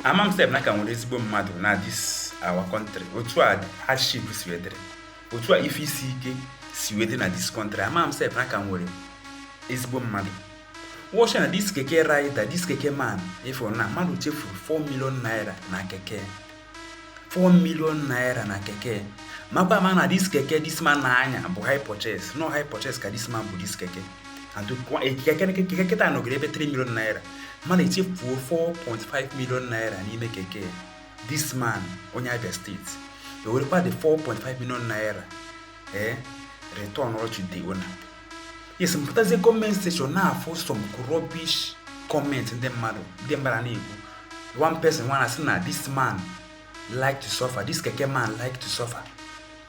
ama m sef na ka nwere ezigbo mmadụ na this our country otu a hardship si wee dịrị otu a ife isi ike si wee dịrị na this country ama m sef na ka nwere ezigbo mmadụ watch na this keke rider this keke man ị fụrụ na mmadụ chefuru 4 million naira na keke 4 million naira na keke makwa ma na this keke this man na-anya bụ hire purchase na hire purchase ka this man bu this keke and keke kịta nọgoro ebe 3 million naira mana e chefuo 4.5 million naira n'ime keke this man onye Abia state ewerekwa the 4.5 million naira ee eh, return all to the owner yes m pụtazie comment section na-afụ some rubbish comment ndị mmadụ na-ekwu one person nwa na-asị na this man like to suffer this keke man like to suffer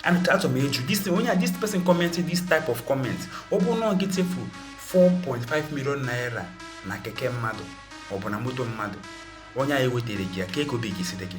and achọ m ịjụ onye this person commenting this type of comment ọ bụrụ na ọ gị chefu 4.5 million naira na keke mmadụ ọ bụ na moto mmadụ onye ahụ ewetara gị ya kee ka obi ga-esi dị gị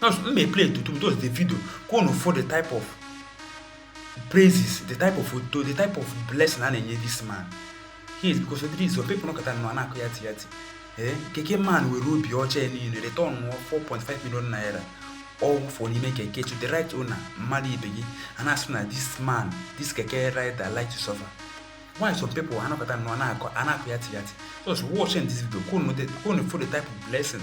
Those m may play tutu those the video ka unu fụ the type of praises the type of otuto the type of blessing a na-enye this man he is because of this some people nọkata nọ na-akọ ya ti ya ti ee keke man were obi ọcha ya niile return 4.5 million naira ọ fụ n'ime keke to the right owner mmadụ ibe gị a na-asị na this man this keke rider like to suffer why some people anọkata nọ na-akọ ya ti ya ti just watching this video ka unu fụ the type of blessing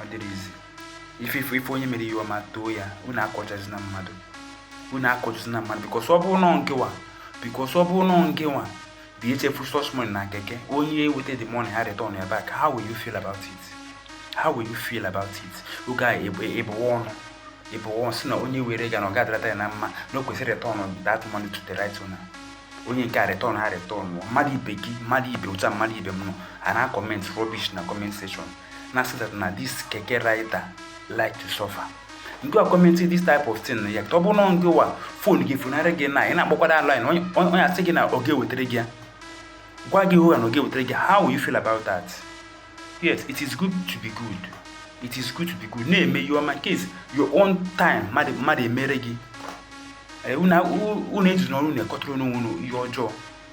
ọ dịrọ easy if onye mere ihe ọma too ya unu akọchazina mmadụ because ọ bụrụ na ọ ngịwa bịa chefu such money na keke onye eweta the money a return ya back how will you feel about it ị ga-ebuwa ọnụ sị na onye were ga na ọ ga-adịrata ya na mma na o kwesịrị return that money to the right owner onye nke a return ha return mmadụ ibe gị mmadụ ibe ụta mmadụ ibe m nọ a na-acomment rubbish na comment section na say that na this keke rider like to suffer ngị a commenting this type of thing ya ọ bụrụ na ngịwa phone gị funarị gị na ị na-akpọkwa the line onye asị gị na ọ ga-ewetara gị ya gwa gị hoo haa na ọ ga-ewetara gị how will you feel about that yes it is good to be good it is good to be good na-eme ihe ọma nke your own time mmadụ emere gị unu ejina ọnụ na-ekotara onwe unu ihe ọjọọ